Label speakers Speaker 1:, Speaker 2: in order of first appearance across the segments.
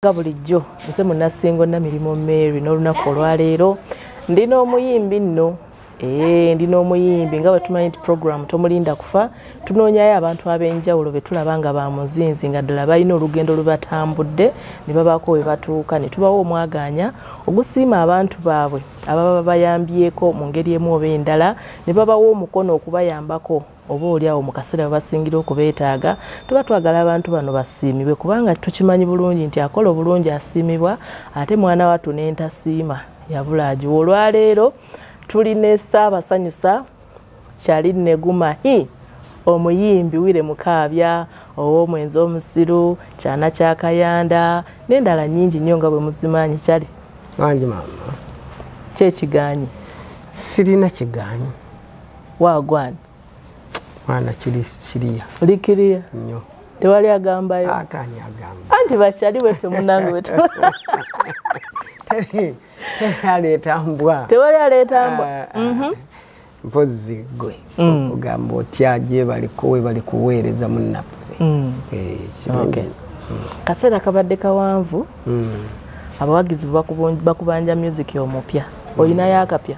Speaker 1: nga bulijjo nze munasingo namirimu mary n'olunaku olwaleero ndi n'omuyimbi nno ee ndi n'omuyimbi nga bwetumanyi nti program tomulinda kufa tunoonyayo abantu ab'enjawulo be tulaba nga ba muzinzi nga ddala balina olugendo lubatambudde ne babaako we batuuka ne tubawo omwagaanya ogusiima abantu baabwe ababa bayambyeko mu ngeri emu oba endala ne babawo omukono okubayambako oba oli awo mu kaseera babasingira okubeetaaga tuba twagala abantu bano basiimibwe kubanga tukimanyi bulungi nti akola obulungi asiimibwa ate mwana wattu n'entasiima yabula agiwa olwaleero tuli ne ssaabasanyusa kyali neguma hi omuyimbi wire mukaabya ow'omwenzi omusiru kyana kya kayanda n'endala nyingi nnyo nga bwe muzimanyi kyali kyekiganyi
Speaker 2: sirina kiganyi wagwan mwana kiri kiriya oli kiriya
Speaker 1: nyo tewali
Speaker 2: agambayo
Speaker 1: atani agamba
Speaker 2: anti bakyali bwetyo
Speaker 1: munange bwetyo
Speaker 2: aleeta mbwa tewali aleeta mbwa
Speaker 1: ah, ah. mhm.
Speaker 2: mpozi gwe mm. ogamba otya gyebaliko webali kuweereza munnaffe mm. eh, mm.
Speaker 1: kaseera kabadde kawanvu abawagizi bakubanja music omupya olinayo akapya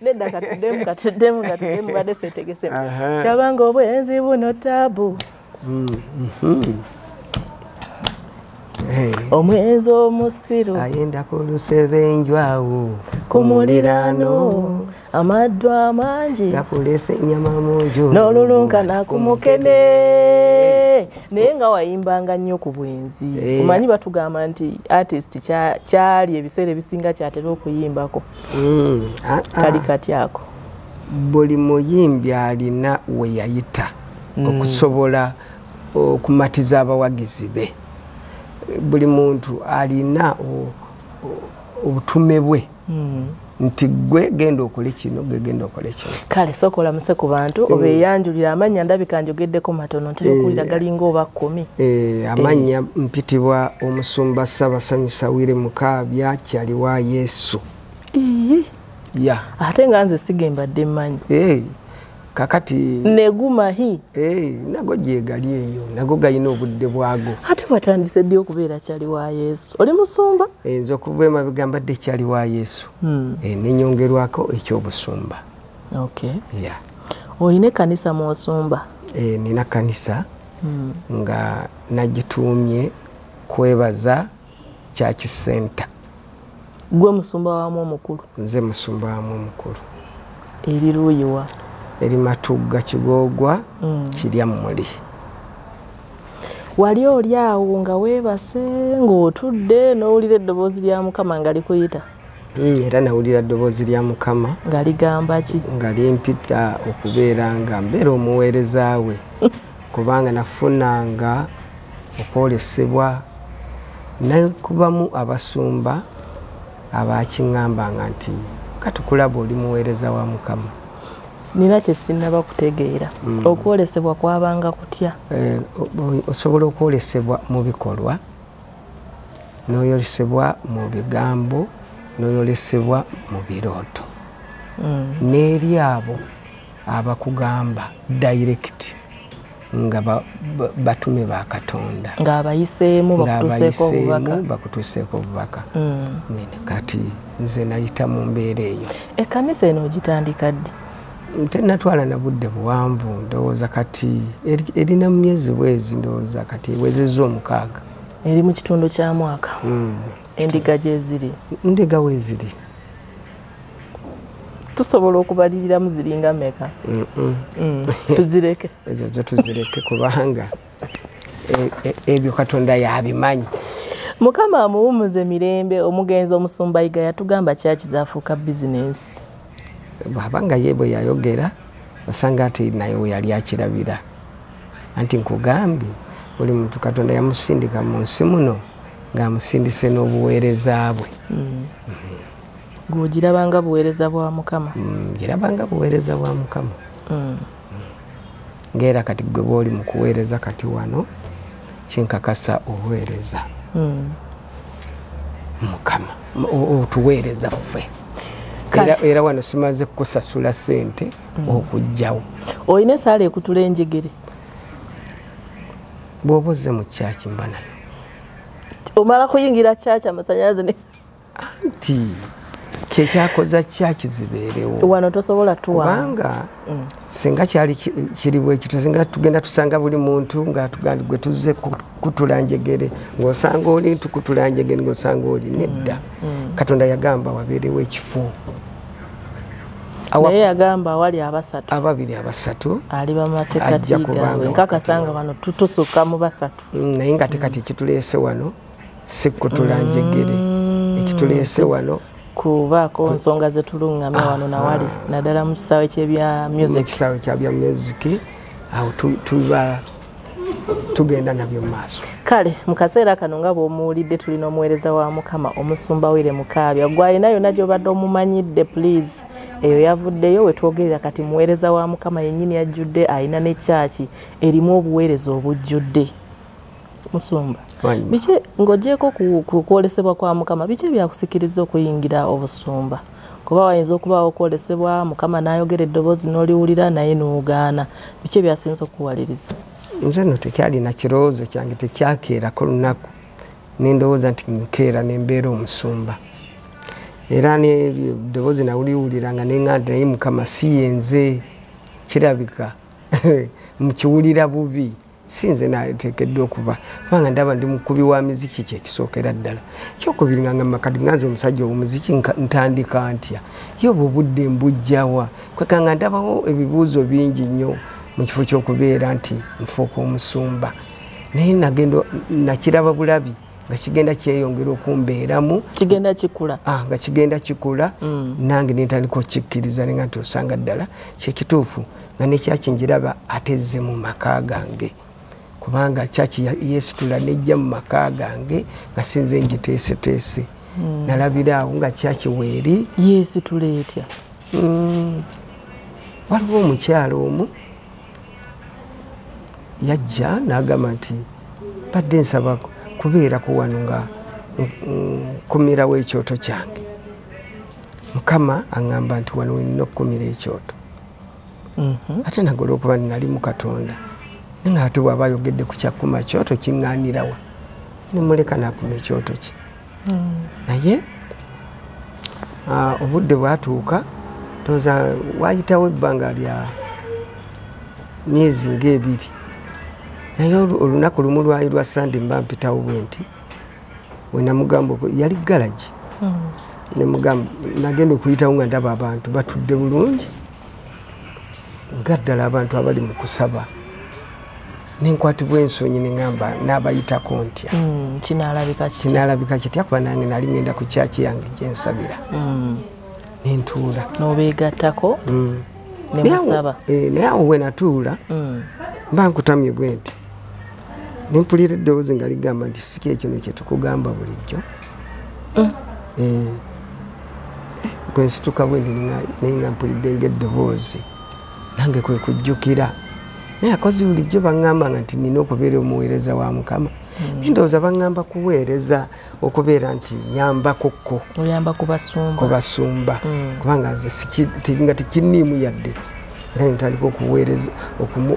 Speaker 2: nedda
Speaker 1: katuddemu katuddemu katuddemu badde seetegesemu kyabanga obwenzi buno taabu mm-hmm. omwenzi omusiru ayenda ku
Speaker 2: lusebenjwawo ku
Speaker 1: muliraano amaddu amangi nakulesa enyama
Speaker 2: munju n'olulunkana ku
Speaker 1: mukene naye nga wayimbanga nnyo ku bwenzi eh. omanyi batugamba nti artist kyali ebiseera ebisinga kyatera okuyimbako mm, ah, ah. kali kati ako buli
Speaker 2: muyimbi alina weyayita mm. okusobola okumatiza abawagizi be buli muntu alina obutume bwe mm. nti gwe genda okole kino gwe genda okole kino kale sooka olamuse ku
Speaker 1: bantu eh. obeeyanjulira amannya ndabika njogeddeko matono ntera eh. okuwulira galinga oba kkumi eh, amannya
Speaker 2: mpitibwa omusumba ssabasanyusa wire mukaabya kyaliwa yesu ya
Speaker 1: ate nga nze sigembadde mmanyi
Speaker 2: kakati negumahi
Speaker 1: nago
Speaker 2: gyegali eyo nago galina obudde bwago ate watandise ddi
Speaker 1: okubeera kyali wa yesu oli musumba enze okuva emabega
Speaker 2: mbadde kyali wa yesu hmm. eh, nenyongerwako ekyobusumba okay. yeah.
Speaker 1: olina ekanisa mwosumba eh, nina kanisa
Speaker 2: hmm. nga nagituumye kwebaza church center gwe
Speaker 1: musumba wamu omukulu nze musumba wamu
Speaker 2: omukulu eri
Speaker 1: luuyiwa eri matugga
Speaker 2: kigoogwa mm. kirya muli
Speaker 1: wali oli awo nga weebase ng'otudde n'owulira eddoboozi lya mukama nga likuyita mm, era
Speaker 2: nawulira ddoboozi lya mukama nga ligamba ki
Speaker 1: nga limpita
Speaker 2: okubeera nga mbeera omuweereza we kubanga nafunanga okwolesebwa nekubamu abasumba abakiŋambanga nti katukulaba oli muweereza wa mukama nina
Speaker 1: kyesinaba kutegeera mm. okwolesebwa kwabanga kutya eh,
Speaker 2: osobola okwolesebwa mu bikolwa noyolesebwa mu bigambo noyolesebwa mu birooto mm. n'eri abo abakugamba direct nga batume ba katonda ng'abayiseemu bakutuuseeko obubaka hmm. kati nze nayita mu mbeera eyo ekkanisa eno
Speaker 1: ogitandika ddi tenatwala
Speaker 2: na budde buwanvu ndowooza kati erina mu myezi bwezi ndowooza kati ewezezza omukaaga eri mu kitundu
Speaker 1: kya mwaka hmm. endiga gyeziri ndiga weziri tusobola okubaliriramu ziringa meka mm, mm. Mm, tuzireke ezo zo
Speaker 2: tuzireke kubanga e, e, ebyo katonda yabimanyi mukama
Speaker 1: amuwumuze mirembe omugenzi omusumba yiga yatugamba kyaki zafuuka bizinensi bwaba
Speaker 2: nga ye bwe yayogera osanga ati naye we yali akirabira anti nkugambye buli muntu katonda yamusindika mu nsi muno ng'amusindise n'obuweereza bwe mm. mm -hmm.
Speaker 1: gwogirabanga buweereza bwa mukama mm, girabanga
Speaker 2: buweereza bwa mukama mm. ngaera kati gwe bwoli mu kuweereza kati wano kinkakasa oweereza mm. mukama otuweereza ffe era wano simaze kukusasula sente okujjawo olina esaala
Speaker 1: ekutula enjegere
Speaker 2: bwoba ozze mu kyaki mba nayo
Speaker 1: omala kuyingira kyaki amasanyalaze anti
Speaker 2: kyekyakoza kyakizibeerewo wano tosobola
Speaker 1: tuwabanga mm.
Speaker 2: singa kyali kiri bwekito singa tugenda tusanga buli muntu ngaatugandi gwe tuzze kutula njegere ngaosanga oli ntukutula njegere ngaosanga oli nedda mm. Mm. katonda yagamba wabeerewo ekifo
Speaker 1: naye yagamba awali abasatu ababiri abasatu
Speaker 2: ali
Speaker 1: bamasekatigawe nkakasanga bano tutusukka mu basatu naye nga tekati
Speaker 2: ekituleese wano sikutula njegere mm. ekituleese wano kubaako
Speaker 1: nsonga zetulungamya wano nawali ah. naddala mu kisaawe kyebya musicekisaawe kyabya music
Speaker 2: awo tuba tugenda nabyo mumaaso kale mu kaseera
Speaker 1: kano nga bwomuwulidde tulina omuweereza wa mukama omusumba wire mukaabya gwalina yonna gyobadde omumanyidde please eyo yavuddeyo wetwogerera kati muweereza wa mukama yennyini yajjudde alina ne kyaki erimu obuweereza obujjudde musumba biki ng'ogyeko kukwolesebwa kwa mukama biki ebyakusikiriza okuyingira obusumba kuba wayinza okubaawo okwolesebwa mukama n'ayogera eddoboozi n'oliwulira naye n'ogaana biki ebyasinza okukuwaliriza nze no
Speaker 2: tekyalina kirowoozo kyange tekyakeerako lunaku nendowooza nti nkeera nembeera omusumba era neddoboozi nawuliwulira nga nenga nti naye mukama si yenze kirabika mukiwulira bubi si nze nateekeddwa okuba kubanga ndaba ndi mukubi wa miziki kyekisookera ddala kyokubiri nga ngamba kati nga nze omusajja omuziki ntandika ntya ye obwo obudde mbujjawa kweka nga ndabawo ebibuuzo bingi nnyo mu kifo ky'okubeera nti nfuuka omusumba naye nagenda nakiraba bulabi nga kigenda kyeyongera okumbeeramu kigenda kikula
Speaker 1: ah, nga kigenda
Speaker 2: kikula mm. nange nentandika okikkiriza nenga nti osanga ddala kyekituufu nga nekyaki njiraba atezze mu maka gange kubanga kyaki yesitula nejja mu maka gange nga sinze njiteeseteese mm. nalabira awo nga kyaki weeri yesitula etya
Speaker 1: mm.
Speaker 2: waliwo omukyalo omu yajja n'agamba nti badde nsaba kubeerako wano nga nkumirawo ekyoto kyange mukama aŋamba nti wano wenina okukumira ekyoto mhm. ate nagola okuba ninali mu katonda nanga ate bwaba ayogedde ku kyakuma kyoto kiŋŋanirawa nemuleka nakuma ekyoto kye naye ah, obudde bwatuuka toza wayitawo ebbanga lya myezi ngaebiri naye olunaku lumu lwali lwa sande mba mpitawo bwe nti wenamugamba yali galagi hmm. nemugamba nagenda okuyitawo nga ndaba abantu batudde bulungi nga ddala abantu abali mu kusaba nenkwatibwa ensonyi neŋamba n'abayitako ntya hmm, kinaalabika kitya kuba nange nali ŋenda ku kyaki yange gyensabira hmm. nentuula nobeegattako
Speaker 1: hmm. nemusaba eh, naye awo
Speaker 2: wenatuula mba nkutamye bwe nti nempulira eddoboozi nga ligamba nti siki ekino kyetukugamba bulijjo eh. Eh, bwensituka bwendi naye nga mpulidde ngaeddoboozi nange kwe kujjukira naye akozi bulijjo baŋŋambanga nti nina okubeera omuweereza wa mukama hmm. naye ndowooza baŋŋamba kuweereza okubeera nti nyambakokko oyamba
Speaker 1: kubasumba hmm.
Speaker 2: kubanga nze nga tekinniimu yadde era nentandika okuweereza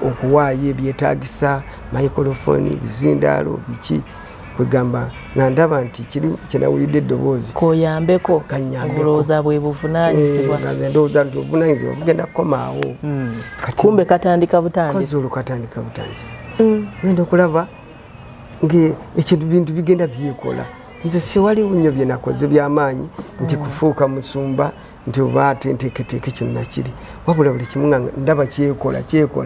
Speaker 2: okuwaayo ebyetaagisa microfoni bizindaalo biki kwegamba nga ndaba nti kiri kyenawulidde eddoboozi koyambeko
Speaker 1: kanyambekooza bwe buvunanyizibwa eh, nga ndowooza nti
Speaker 2: obuvunanyizibwa bugenda kukomaawo hmm. kumbe
Speaker 1: katandika butandisi olwo katandika butandisi
Speaker 2: hmm. genda okulaba ngaekintu bintu bigenda byekola nze siwaliwo nnyo byenakoze byamaanyi nti hmm. kufuuka musumba nti oba ate nteeketeeke kino nakiri wabula buli kimu nga ndaba kyekola kyekola